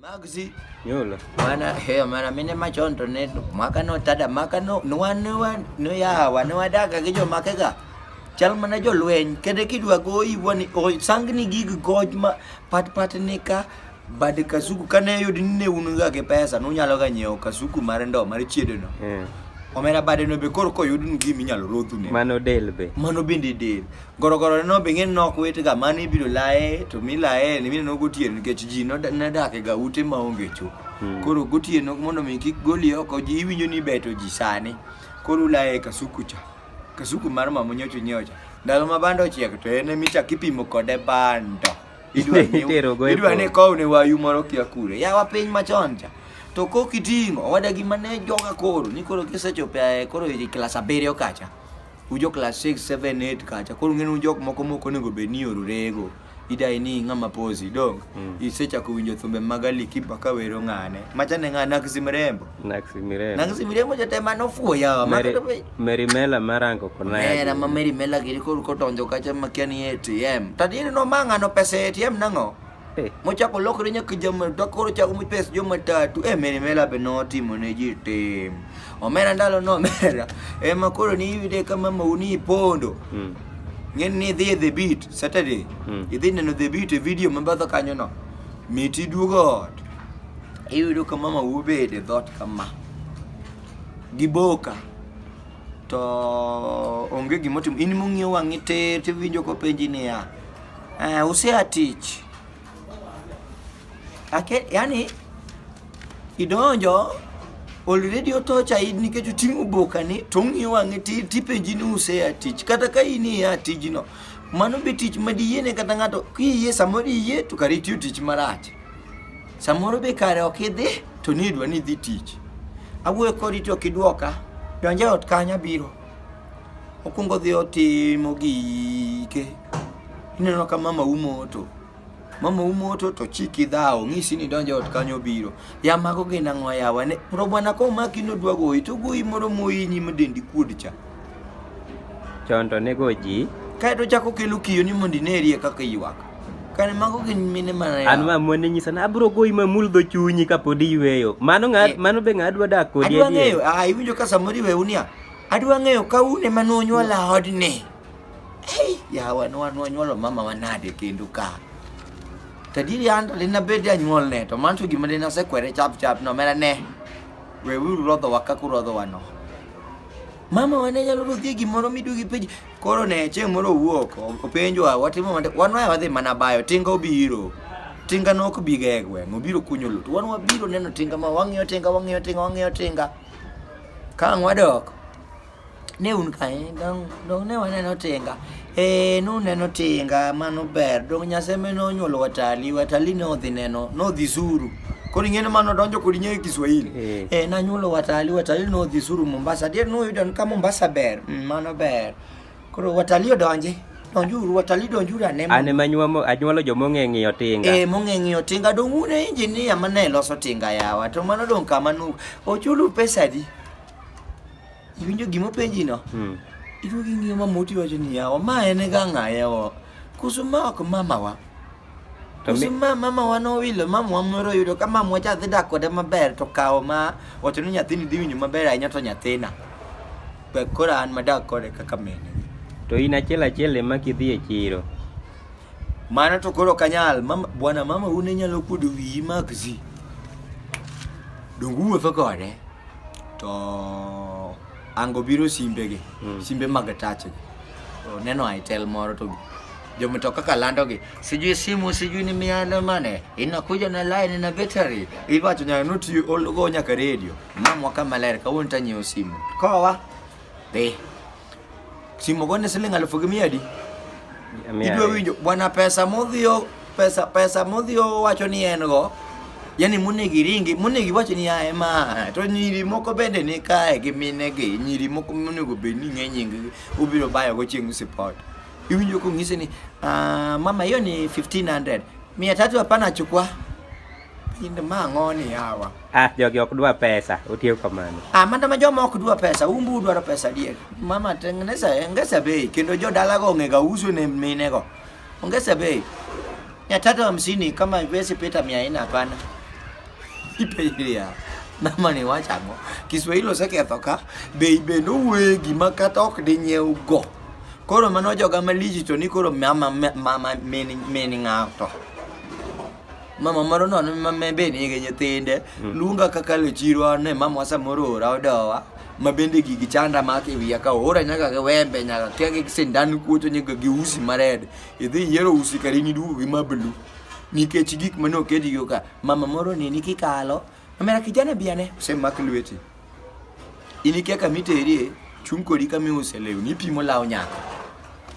Magzi. Yola. Mana he mana mine machondo ne maka no tada maka no no no no ya wa no ada ka gijo maka ga. Chal mana jo lwen kede kidwa go i woni o sangni gig goj ma pat pat ne ka bad kasuku kane yud ne unu ga ke pesa no nyalo ga nyeo kasuku mar ndo mar chiedo no. Mm. Omera bade no be kor ko yud ngi minyalo rodhu ne. Mano del be. Mano bende del. Gorogorone no be ng'eny nok wetega mane ibiro laye to milaye ni mineno gotieno nikech ji nodake ga ute maonge cho. Hmm. Koro gotieno mondo mi kik goli oko ji iwinjo ni beto ji sani. Koro ulaye kasuku cha. Kasuku mar mama nyocho nyocha. Ndalo ma bando ochiek to en emicha kipimo kode bando. Idwa ni kow ne wayu moro kia kure. Yawa piny machon cha. To kok iting'o wadagi mane joga koro ni koro kisechopo koro klas abiriyo kacha. ujo class 6 7 8 kacha koro ng'enu jok moko moko onego bed ni orurego idai ni ng'ama posi dong mm. isechako winjo thumbe mag Ali Kiba ka wero ng'ane machane ng'a Naxi Mirembo Naxi Mirembo Naxi Mirembo jatema nofuoya Mary, Mary Mela marango kona Mera ma Mary Mela giri koro kotonjo kacha makia ni ATM tadiri no mang'ano pesa ATM nang'o Eh. Mochako lokre nyaka jama to koro chako mopes joma tatu. Eh, Mary Mela be notimo ne ji tim. Omera ndalo no omera. Ema koro ni iyude kama mauni pondo. Mm. Ng'eni ni idhi e The Beat Saturday. Mm. Idhi neno The Beat e video mabadho kanyo no. Miti duogo ot. Iyudo ka mama ubede dhot kama. Giboka. To onge gimotimo. In mong'iew wang'i tir tiwinjo kopenji niya. Uh, usea tich Ake, yani idonjo already otocha in nikech oting'o bokani to ong'iyo wang'e tipenji ni usea tich kata ka in ia tijno mano be tich ma diyiene kata ng'ato kiyie samoro iyie to kare itiyo tich marach samoro be kare ok idhi to ni idwa ni idhi tich awuoyo kodi to ok idwoka donje ot kanya biro Okuongo dhi otimo gike. Ineno ka mama umo to mama umoto to chiki dhawo ng'isi ni donjo ot kanyo biro ya mago gin ang'o yawa ne robwana ko maki nodwa goyi to goyi moro moyinyi madendi kuod cha chon to nego ji kae to chako kelo kiyo ni mondo inerie kaka ywak kane mago gin mine mana yawa an ma mone nyisa na abro goyi ma mul dho chunyi kapod iyweyo mano ng'a Eh. mano be ng'a adwa dak kodi adwa adier ng'eyo ah iwinjo ka samoro iwe unia Adwa ng'eyo ka un ema nonyuola odni. Hey, yawa nonyuolo mama wanade kendo ka. Tadiri an to dina bed janyuol ne to manto gima dina sekwere chap chap no mera ne. We we rodho waka ku rodho wano. Mama wane nyalo rodhi gimoro midugi penj. Koro ne chieng' moro wuok openjo wa watimo mande wan wa wadhi mana bayo tinga obiro. Tinga nok biga e gweng' obiro kunyo lut. Wan wabiro neno tinga ma wang'iyo tinga wang'iyo tinga wang'iyo tinga. Ka ang' wadok, ne un kae, dong, dong ne waneno tinga. Eh, nuneno tinga, mano ber. Dong Nyasaye mene onyuolo Watali, Watali ne odhi neno, nodhi Zuru. Koro ing'e ni mano odonjo kod nyinge Kiswahili. Eh. Eh, nanyuolo Watali, Watali nodhi Zuru Mombasa. Adier nuyudo ni ka Mombasa ber, mm, mano ber. Koro watalii odonji. Donjuru watalii donjuru ane. An ema nyuomo anyuolo joma ong'e ng'iyo tinga. Eh mong'e ng'iyo tinga dong' un e injinia ma ne loso tinga yawa to mano dong' kama nu ochulu pesa adi? Iwinjo gima openji no? Hmm. Iduogo ing'iyo ma moti wacho ni yawa ma en ga ng'a yawa. Kusu ma ok mamawa. To mi- Kusu ma mamawa nowilo mamawa moro yudo ka mamawa cha dhi dak kode maber to kawo ma wacho ni nyathini dhi winjo maber ahinya to nyathina. Pe- Koro an madak kode kaka mine. To in achiel achiel ema kidhi e chiro. Mano to koro kanyal. Mama, bwana mama une nyalo kuodo wiyi magzi. Dongu wuotho kode. To ango biro simbegi. Mm. Simbe mag tachgi. To neno aitel moro to jomitoka ka landogi. sijui simu sijui ni miana mane inakuja na line na battery ibatu nya nuti ologo nya ka radio mama kama ler ka wonta nyo simu kowa be simu gone siling alfu mia di idwa winjo bwana pesa modhio pesa pesa modhio wacho ni en go yani monegi ringi monegi wacho ni ae ma to nyiri moko bende ni kae gi minegi nyiri moko monego bed ni ng'e nying obiro bayogo chieng' sipot Iwinjo kong'isi ni ah, mama hiyo ni 1500. Mia tatu hapana chukua. Pinde ma ng'oni hawa. Ah, jogi ok dwa pesa, otiyo kamano. Ah, manda ma joma ok dwa pesa, umbu dwaro pesa adier. Mama tengeneza ongeza bei kendo jodalago ongega uso ne minego. Ongeza bei. Mia tatu hamsini kama haiwezi pita mia nne hapana. Ipejiria. Mama ni wachang'o. Kiswahili oseketho ka. Bei bende owegi ma kata ok dinyiew go. Koro mano joga malich to ni koro mama mama min min ng'ato. Mama moro nono ma me be nigi nyithinde Mm. luonga kaka le chiro ane mama samoro ora odowa ma bende gigi chanda ma ki wiya ka ora nyaka gi wembe nyaka kia gi sindan kuoto nyaka gi usi mared idhi yiero usi kari ni duogo gi mablu nikech gik mane okedi go ka mama moro ni ni kikalo Omera kijana bi ane. Osemak lweti. In ikia kama iterie, chung' kodi kama iuse lewni, ipimo law nyako.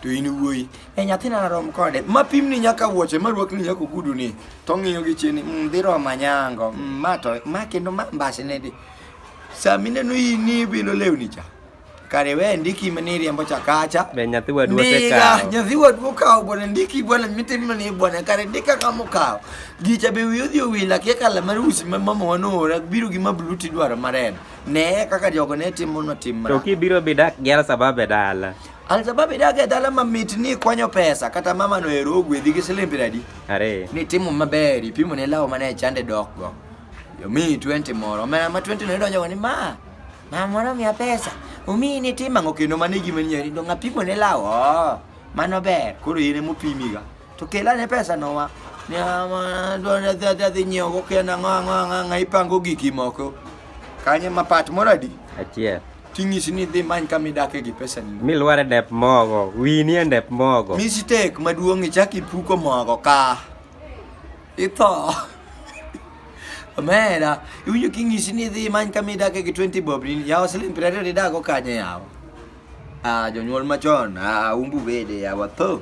To in wuoyi, e nyathina narom kode, ma pimni nyaka wuoche, ma rwakni nyaka oguduni, to ong'iyo gi chini, mm, dhi romo anyango, mm, ma to, ma kendo ma mbasine di. Sama ineno in ibilo lewni cha, Kare we ndiki maniri ambo chakacha. Be nyathi wa duote kawo. Ndiga nyathi wa duo kawo bwana ndiki bwana mitin mani bwana kare ndika kamo kawo. Gicha be wiyo dhi owila kia kala mar usi ma mama wanora biro gi mabluti dwaro mareno. Ne kaka jogo ne timo no tim mara. To kibiro bidak gi al sababe dala. Al sababe daga dala mamit ni kwanyo pesa kata mama no ero ogwedhi gi siling' piero adi. Are. Ni timo maber ipimo ne lawo mane chande dok go. Yomi 20 moro. Omera ma 20 no idonjo go ni ma. Mama moro miya pesa. Omiyi ni tim ang'o kendo mano e gima nyeri to ng'apimo ne law. Oh, mano ber. Koro in ema opimiga. To kela ne pesa no wa. Ni ama dwani adhi adhi adhi nyiewo go kia nang'o ang'o ang'o ang'o ipango giki moko. Kanye ma pat moro adi? Achiel. Ting'isi ni dhi many kama idake gi pesa ni. Milware dep mogo. Winie dep mogo. Mistake maduong' ichak ipuko mogo ka. Ito. Omera, iwinjo king'isi ni idhi many kama idake gi 20 bob ni yawa siling' piero ariyo nidak go kanye yawa. Ah, jonyuol machon, ah, umbu bede yawa tho.